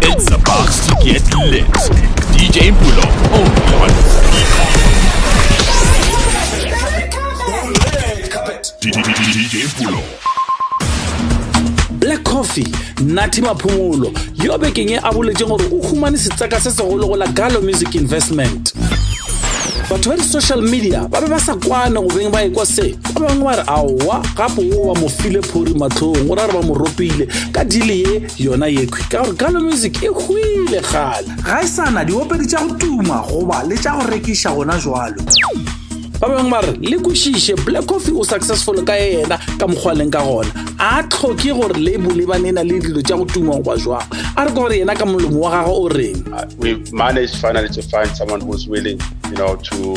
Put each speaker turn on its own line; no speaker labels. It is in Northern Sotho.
It's about to get lit. DJ Mpulo, only on DJ Mpulo.
black coffee nathi maphumulo yo bekeng e a boletseng gore o humane setseka se segolo go la galo music investment batho ba di-social media ba be ba sa kwane go beng ba ekwa se ba bangwe ba re aowa gape o ba mo file phori matlhong go ra re ba mo ropile ka dili ye yona yekhwi ka gore galo music e hwile gala ga e sana diopedi tša go tuma goba le tša go rekiša gona jalo ba bangwe ba re le kwešiše black coffee o successful ka yena ka mokgwa leng ka gona a tlhoke gore label e banena le dilo tša go tuma goba jwang a re ka gore yena ka molomo wa gagwe o reng uh, we managed
finally to find someone who's willing you know to